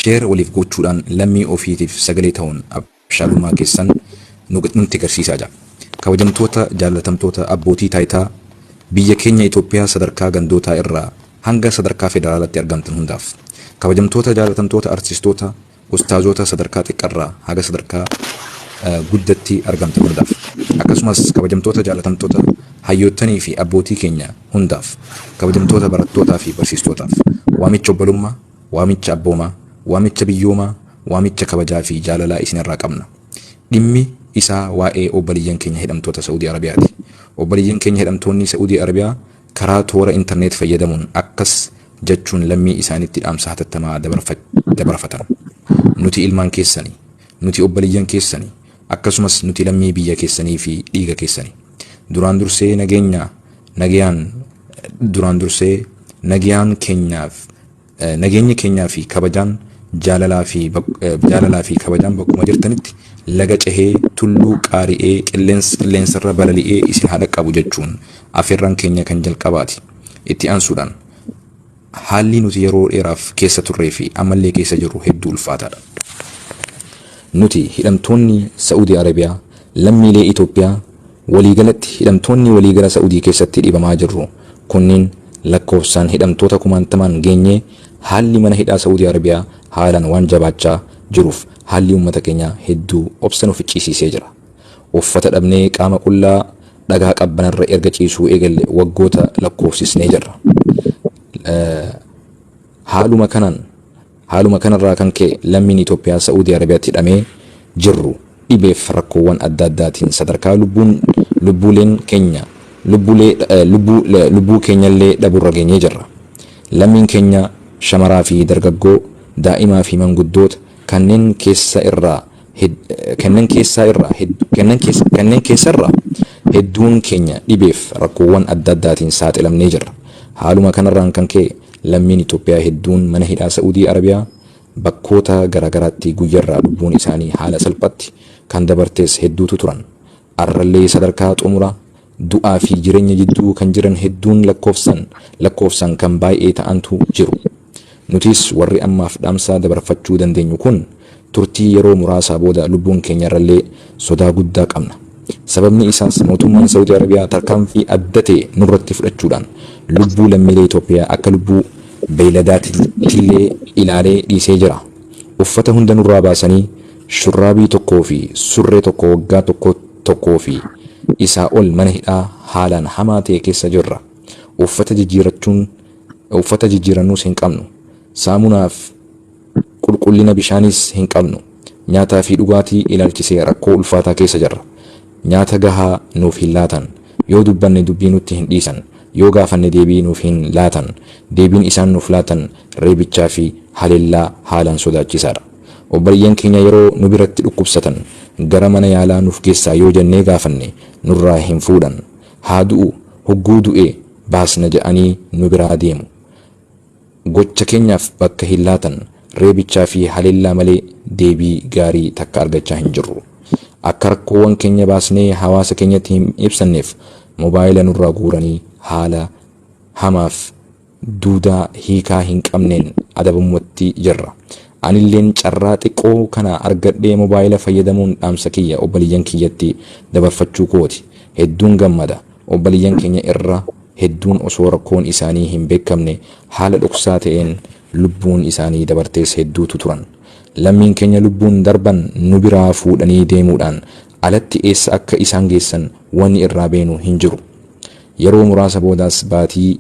Share waliif gochuudhaan lammii ofiitiif sagalee ta'uun abshaalummaa keessan nutti garsiisaa jedha. Kabajamtoota, jaallatamtoota abbootii taayitaa biyya keenya Itoophiyaa sadarkaa gandootaa irraa hanga sadarkaa federaalaatti argamtan hundaaf. Kabajamtoota, jaallatamtoota artistoota, ustaazoota sadarkaa xiqqarraa haga sadarkaa guddatti argamtan hundaaf. Akkasumas kabajamtoota, jaallatamtoota hayyoottanii fi abbootii keenya hundaaf, kabajamtoota barattootaa fi barsiistootaaf, waamicha obbolummaa, waamicha abboomaa, waamicha biyyoomaa, waamicha kabajaa fi jaalalaa isin irraa qabna. Dhimmi isaa waa'ee obbaliyyan keenya hidhamtoota Sa'udii Arabiyaati. Obbaliyyan keenya hidhamtoonnii Sa'udii Arabiyaa karaa toora internet fayyadamuun akkas jachuun lammii isaanitti dhaamsa hatattamaa dabarfatan. Nuti ilmaan keessani. Nuti obbaliyyan keessani. Akkasumas nuti lammii biyya keessanii fi dhiiga keessani. Duraan dursee nageenya nagayaan duraan dursee nagayaan keenyaaf eh, nageenya keenyaa fi kabajaan jaalalaa fi bak- eh, jaalalaa fi kabajaan bakkuma jirtanitti laga cehee tulluu qaari'ee qilleens- qilleensarra balali'ee isin haa dhaqqabu jechuun afeerraan keenya kan jalqabaati. Itti aansuudhaan Haalli nuti yeroo dheeraaf keessa turree fi ammallee keessa jirru hedduu ulfaataadha. Nuti hidhamtoonni Sa'uudii Arabiyaa lammiilee Itoophiyaa waliigalatti hidhamtoonni waliigala Sa'uudii keessatti dhibamaa jirru kunniin lakkoofsaan hidhamtoota kumaantamaan geenyee haalli mana hidhaa Sa'uudii Arabiyaa haalaan waan jabaachaa jiruuf haalli ummata keenyaa hedduu obsa nu ficcisiisee jira. Uffata dhabnee qaama qullaa dhagaa qabbanarra erga ciisuu eegalle waggoota lakkoofsisnee jirra. Haaluma kanaan haaluma kanarraa kan ka'e lammiin Itoophiyaa Sa'uudii Arabiyaatti hidhamee jirru dhibeef rakkoowwan adda addaatiin sadarkaa lubbuun lubbuuleen keenya lubbuulee lubbuu lubbuu keenyallee dhabuurra geenyee jirra. Lammiin keenya shamaraa fi dargaggoo, daa'imaa fi manguddoota kanneen keessa irraa Kanneen keessaa irraa kanneen keessa irraa hedduun keenya dhibeef rakkoowwan adda addaatiin saaxilamnee jirra. Haaluma kanarraan kan ka'e lammiin Itoophiyaa hedduun mana hidhaa Sa'uudii Arabiyaa bakkoota garaagaraatti guyyarraa lubbuun isaanii haala salphaatti kan dabartees hedduutu turan. Arrallee sadarkaa xumura du'aa fi jirenya jidduu kan jiran hedduun lakkoofsan lakkoofsan kan baay'ee ta'antu jiru. Nutis warri ammaaf dhaamsa dabarfachuu dandeenyu kun turtii yeroo muraasaa booda lubbuun keenyarrallee sodaa guddaa qabna. Sababni isaas mootummaan Sa'udi Arabiyaa tarkaanfii adda ta'e nurratti fudhachuudhaan lubbuu lammiilee Itoophiyaa akka lubbuu beeyladaatillee ilaalee dhiisee jira. Uffata hunda nurraa baasanii shurraabii tokkoo fi surree tokko waggaa tokko tokkoo fi isaa ol mana hidhaa haalaan hamaa ta'e keessa jirra. Uffata jijjiirachuun uffata jijjiirannuus hin qabnu. Saamunaa fi qulqullina bishaaniis hin qabnu. Nyaataa fi dhugaatii ilaalchisee rakkoo ulfaataa keessa jirra. Nyaata gahaa nuuf hin laatan. Yoo dubbanne dubbii nutti hin dhiisan. Yoo gaafanne deebii nuuf hin laatan. Deebiin isaan nuuf laatan reebichaa fi haleellaa haalaan sodaachisaadha. Obboleeyyan keenya yeroo nu biratti dhukkubsatan gara mana yaalaa nuuf geessaa yoo jennee gaafanne nurraa hin fuudhan. Haa du'u, hogguu du'e baasna jedhanii nu biraa deemu. Gocha keenyaaf bakka hin laatan, reebichaa fi haleellaa malee deebii gaarii takka argachaa hin jirru. Akka rakkoowwan keenya baasnee hawaasa keenyatti hin ibsanneef mobaayila nurraa guuranii haala hamaaf duudaa hiikaa hin qabneen adabamumatti jirra. Anilleen carraa xiqqoo kana argadhee mobaayila fayyadamuun dhaamsa kiyya obboleeyyan kiyyatti dabarfachuu kooti. Hedduun gammada. Obboleeyyan keenya irra. hedduun osoo rakkoon isaanii hin beekamne haala dhoksaa ta'een lubbuun isaanii dabartees hedduutu turan. Lammiin keenya lubbuun darban nu biraa fuudhanii deemuudhaan alatti eessa akka isaan geessan wanni irraa beenu hin jiru. Yeroo muraasa boodaas baatii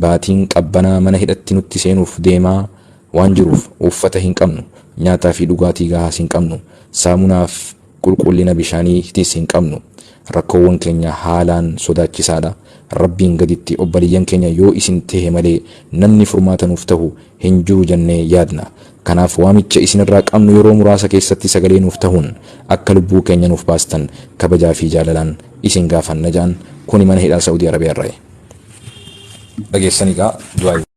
baatiin qabbanaa mana hidhatti nutti seenuuf deemaa waan jiruuf uffata hin qabnu, nyaataa fi dhugaatii gahaas hin qabnu, saamunaaf Qulqullina bishaanii tiis hin qabnu. Rakkoowwan keenya haalaan sodaachisaa dha. Rabbiin gaditti obboleeyyan keenya yoo isin tehe malee namni furmaata nuuf tahu hin jiru jannee yaadna. Kanaaf waamicha isin irraa qabnu yeroo muraasa keessatti sagalee nuuf tahuun akka lubbuu keenya nuuf baastan kabajaa fi jaalalaan isin gaafanna jedhan. Kuni mana hidhaa Sa'uudii Arabiyaa irraayi. Dhageessanii kaa du'aayi.